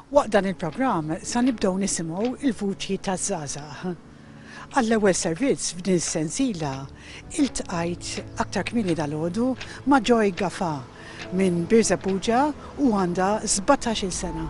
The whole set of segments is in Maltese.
Waqt dan il-programm sa nibdew nisimgħu il-vuċi taż-żgħażagħ. Għall-ewwel servizz f'din is-sensiela iltqajt aktar kmieni dalgħodu ma' Joy Gafa minn Birżebbuġa u għandha 17-il sena.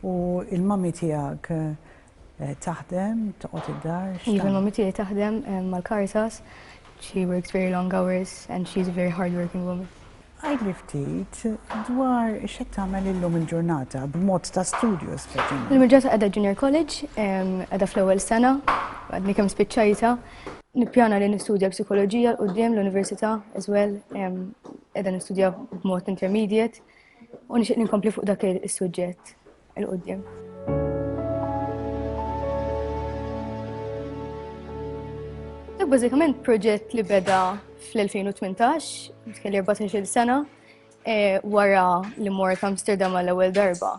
U l-mommy tiegħek taħdem, toqgħod id-dar? Iva, l-mommy tiegħi taħdem mal-Caritas. She works very long hours and she's a very hard working woman. Għidli ftit dwar x'qed tagħmel illum il-ġurnata b'mod ta' studju speċjalment. Illum il-ġurnata qiegħda junior college, qiegħda fl-ewwel sena, għadni kemm spiċċajta. Nippjana li nistudja psikoloġija l qudiem l-università as well, qiegħda nistudja b'mod intermediate. U nixtieq ninkompli fuq dak is-suġġett il-qudiem. Dak bażikament proġett li beda fl-2018, kelli 14 sena, eh, wara li mort Amsterdam għall-ewwel darba.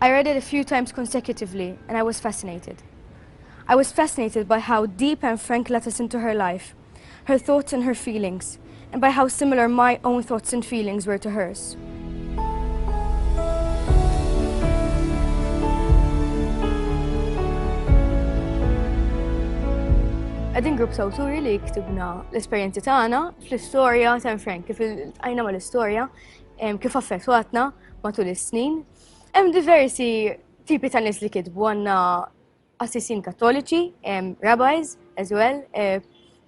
I read it a few times consecutively and I was fascinated. I was fascinated by how deep and frank let us into her life, her thoughts and her feelings, and by how similar my own thoughts and feelings were to hers. Għedin grupp sawturi li ktibna l-esperienzi tagħna fl-istorja ta' Frank, kif għajna ma l-istorja, kif affettwatna, matul is-snin. Hemm diversi tipi ta' nies li kitbu għandna assisin kattoliċi, rabbis as well, eh,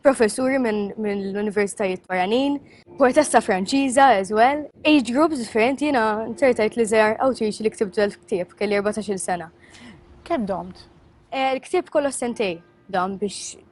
professuri minn min l-universitajiet barranin, poetessa franċiża as well, age groups differenti jina nċertajt li zjar outreach li ktib ġel ktib kelli 14 sena. Kem domt? Eh, il-ktib kollu sentej dam biex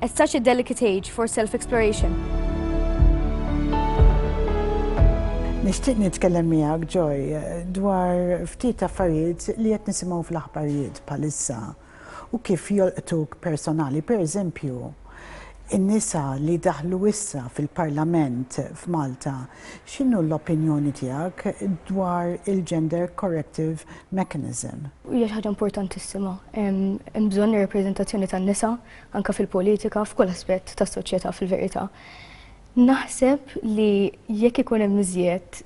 At such a delicate age for self-exploration. Nixtieq nitkellem miegħek, Joy, dwar ftit affarijiet li qed nisimgħu fl-aħbarijiet bħalissa u kif jolqtuk personali. Pereżempju, in-nisa li daħlu issa fil-Parlament f'Malta X'inhu l-opinjoni tiegħek dwar il-gender corrective mechanism? Hija xi ħaġa importantissima. Hemm bżonn ir-rappreżentazzjoni tan-nisa anke fil-politika f'kull aspett tas-soċjetà fil-verità. Naħseb li jekk ikun hemm iżjed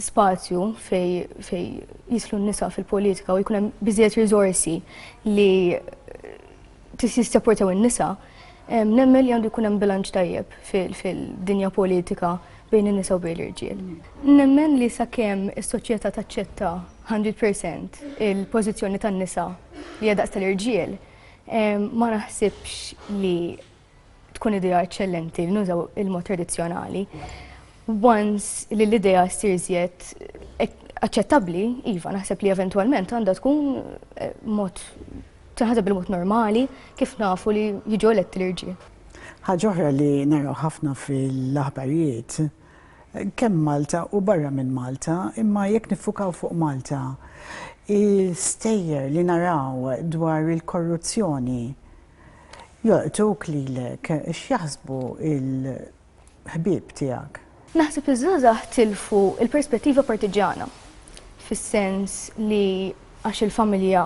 spazju fej fej jislu n-nisa fil-politika u jkun hemm biżjed riżorsi li Trid jissapportaw in-nisa, nemmen li għandu jkun hemm bilanċ tajjeb fil-dinja politika bejn in-nisa u bejn l-irġiel. Nemmen li sakemm is-soċjetà taċċetta 100% il-pożizzjoni tan-nisa li hija daqs tal-irġiel, ma naħsibx li tkun idea eċċellenti li nużaw il-mod tradizzjonali. Once li l-idea ssir żjed eh, aċċettabbli, iva, naħseb li eventwalment għandha tkun eh, mod tinħaseb bil-mod normali kif nafu li jiġu eletti l-irġiel. Ħaġoħra li naraw ħafna fil-aħbarijiet kemm Malta u barra minn Malta, imma jekk nifukaw fuq Malta, il-stejjer li naraw dwar il-korruzzjoni Joqtgħuk lilek, x'jaħsbu l-ħbieb tiegħek? Naħseb li ż-żgħażagħ tilfu l-perspettiva partiġġjana, fis-sens li għax il-familja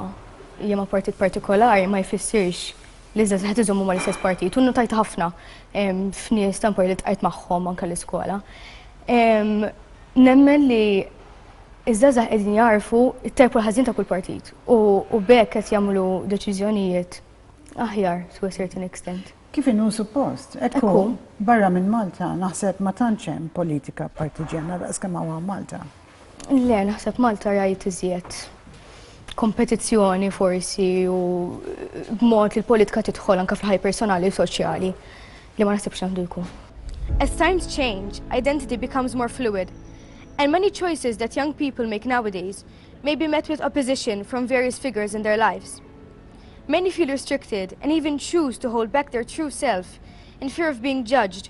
hija ma' partit partikolari ma jfissirx li ż-żgħażagħ qed iżommu mal-istess partit u nnutajtha ħafna f'nies ta' mpar li ltqajt magħhom anke l-iskola. Nemmen li iż-żgħażagħ qegħdin jagħrfu t-tajb u l-ħażin ta' kull partit u b'hekk qed jagħmlu deċiżjonijiet aħjar to a certain extent. Kif inhu suppost, hekk hu. Barra minn Malta naħseb ma tantx hemm politika partiġjana daqskemm hawn Malta. Le, naħseb Malta rajt iżjed kompetizzjoni forsi u b'mod li l-politika tidħol anka fl-ħaj personali u soċjali li ma naħsibx għandu jkun. As times change, identity becomes more fluid, and many choices that young people make nowadays may be met with opposition from various figures in their lives. Many feel restricted and even choose to hold back their true self in fear of being judged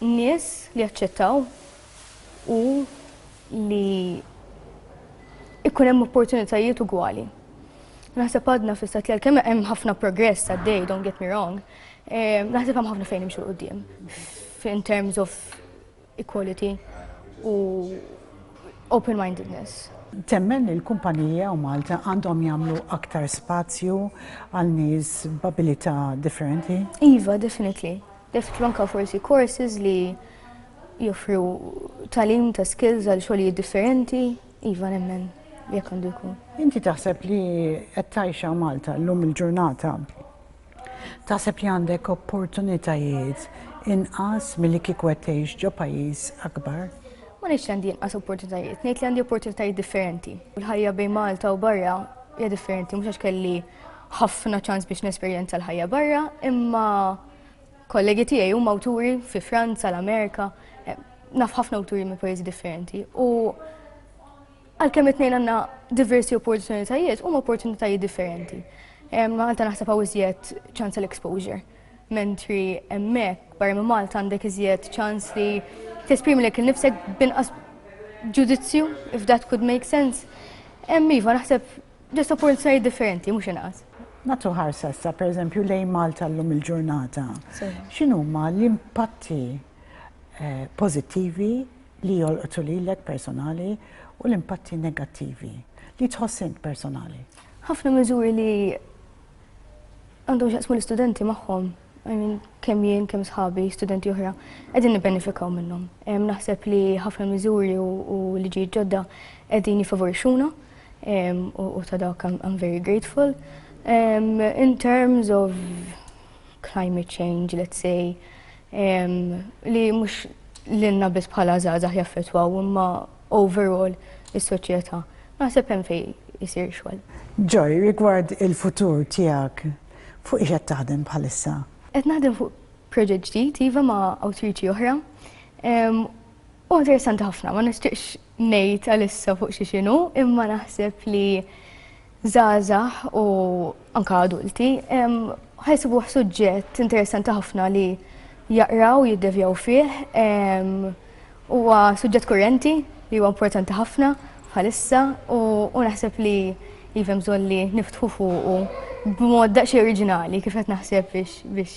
nies li jaċċettaw u li ikun hemm opportunitajiet ugwali. Naħseb għadna fl-istat li għalkemm hemm ħafna progress għaddej, don't get me wrong, eh, naħseb hemm ħafna fejn imxu qudiem in terms of equality u open-mindedness. Temmen li l-kumpaniji hawn Malta għandhom jagħmlu aktar spazju għal nies b'abilità differenti? Iva, definitely. Definitely anke forsi courses li joffru talim ta' skills għal xogħlijiet differenti, iva nemmen jekk għandu jkun. Inti taħseb li qed tgħixha Malta llum il-ġurnata Taħseb li għandek opportunitajiet inqas milli kieku qed tgħix ġo pajjiż akbar? Ma ngħidx li għandi inqas opportunitajiet, ngħid li għandi opportunitajiet differenti. Il-ħajja bejn Malta u barra hija differenti, mhux għax kelli ħafna ċans biex nesperjenza l-ħajja barra, imma kollegi tiegħi huma awturi fi Franza, l-Amerika, eh, naf ħafna awturi minn pajjiżi differenti. U Għalkemm it-tnejn għandna diversi opportunitajiet, huma opportunitajiet differenti. Malta naħseb hawn iżjed ċans għal exposure. Mentri hemmhekk barra minn Malta għandek iżjed ċans li tesprimi lek il-nifsek binqas ġudizzju, if that could make sense. Hemm iva naħseb ġest opportunitajiet differenti, mhux inqas. Natu ħarsa sa per eżempju lejn Malta llum il-ġurnata. X'inhuma l-impatti eh, pożittivi li jolqtu lilek personali u l-impatti negattivi li tħoss int personali. Ħafna miżuri li għandhom xaqsmu l-istudenti magħhom, I mean, kemm jien, kemm sħabi, studenti oħra, qegħdin nibbenefikaw minnhom. Naħseb li ħafna miżuri u liġi ġodda qegħdin jifavorixxuna u ta' dawk I'm very grateful. In terms of climate change, let's say, li mhux lilna biss bħala żgħażagħ jaffettwaw imma overall is-soċjetà. Naħseb hemm fejn isir xogħol. Joy, rigward il-futur tiegħek, fuq ix qed taħdem bħalissa? Qed naħdem fuq proġett ġdid iva ma' awtriċi oħra. Huwa interessanti ħafna, ma nixtieqx ngħid għalissa fuq xi x'inhu, imma naħseb li żgħażagħ u anke adulti ħajsibuh suġġett interessanti ħafna li jaqraw, jiddevjaw fih. Huwa suġġett kurrenti li huwa importanti ħafna bħalissa u naħseb li jivem bżonn li niftħu fuqu b'mod daqsxejn oriġinali kif qed naħseb biex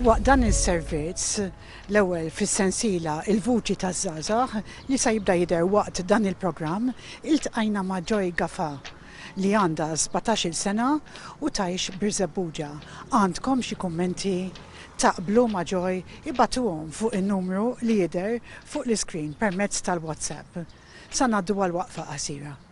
Waqt dan is-servizz, l-ewwel fis-sensiela Il-Vuċi taż-Żgħażagħ li sa jibda jidher waqt dan il-programm, iltqajna ma' Joy Gafa li għandha sbatax-il sena u tgħix Birżebbuġa. Għandkom xi kummenti? Taqblu ma' Joy? Ibagħtuhom fuq in-numru li jidher fuq l-iscreen permezz tal-WhatsApp. Sa ngħaddu għal waqfa qasira.